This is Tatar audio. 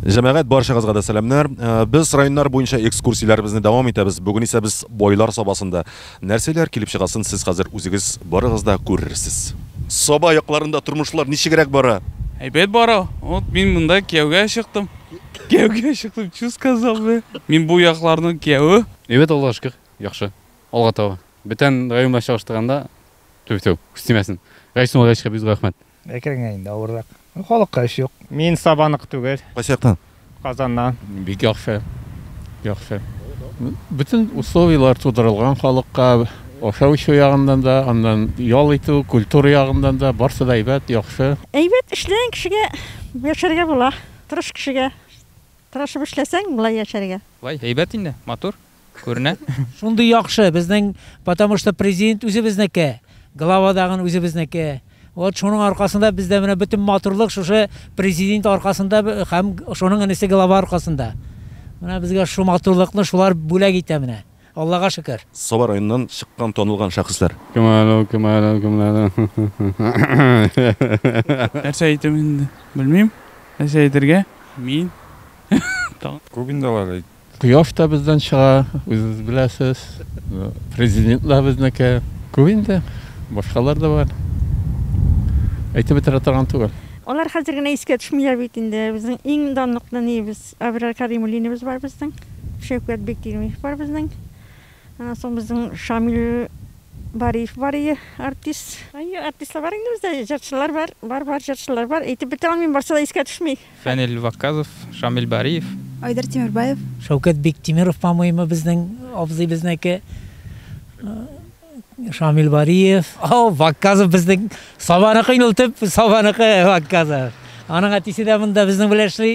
Җәмәгать баршагызга да сәламнәр. Э, без районнар буенча экскурсияләребезне дәвам итәбез. Бүген исә без бойлар сабасында. Нәрсәләр килеп чыгасын сез хәзер үзегез барыгыз да күрерсез. Саба якларында тормышлар ничегрәк бара? Әйбәт бара. Вот мин монда кияүгә чыктым. Кияүгә чыктым, чу сказал бе. Мин бу якларның кияүе. Әйбәт Аллага шөкер, яхшы. Алга таба. Бөтен район белән чагыштырганда, түбәтү, күз тимәсен. Рәис Муллаевичка бик зур рәхмәт. Әкрен генә инде, авыррак. Халыкка эш юк. Мин Сабанок түгел. Кайсы яктан? Казаннан. Бик яхшы. Яхшы. Бөтен условияләр тудырылган халыкка, ашау-эчү ягыннан да, аннан ял итү, культура ягыннан да, барсы да әйбәт, яхшы. Әйбәт, эшләгән кешегә яшәргә була, тырыш кешегә. Тырышып эшләсәң, болай яшәргә. Болай әйбәт инде, матур. Күренә? Шундый яхшы, безнең, потому что президент үзебезнеке, глава дагын үзебезнеке. Вот шуның аркасында бездә менә бөтен матурлык шушы президент аркасында һәм шуның энесе глава аркасында. Менә безгә шу матурлыкны шулар бүләк итә менә. Аллага шөкер. Саба районыннан чыккан танылган шәхесләр. Кем әле ул, кем әле ул, кем әле ул? Нәрсә әйтим инде, белмим. Нәрсә әйтергә? Мин. Күп инде алар. Кояш та бездән чыга, үзегез беләсез. Президент да безнеке. Күп инде, башкалар да бар. Әйтеп бетерә торган түгел. Алар хәзер генә искә төшмиләр бит инде. Безнең иң данлык нәниебез Әберар Кәримуллиныбыз бар безнең, Шәүкәт Биктимиев бар безнең. Аннан соң безнең Шамил Бариев бар ие, артист. Әйе, артистлар бар инде бездә, җырчылар бар, бар-бар җырчылар бар. Әйтеп бетерә алмыйм, барсы да искә төшми. Фәнил Вакказов, Шамил Бариев. Айдар Тимербаев. Шәүкәт Биктимеров, по-моему, безнең абзый безнеке. Шамил Бариев. О, Вакказов безнең Сабаныкы инде ул төп Сабаныкы Вакказов. Аның әтисе дә монда безнең белән эшли.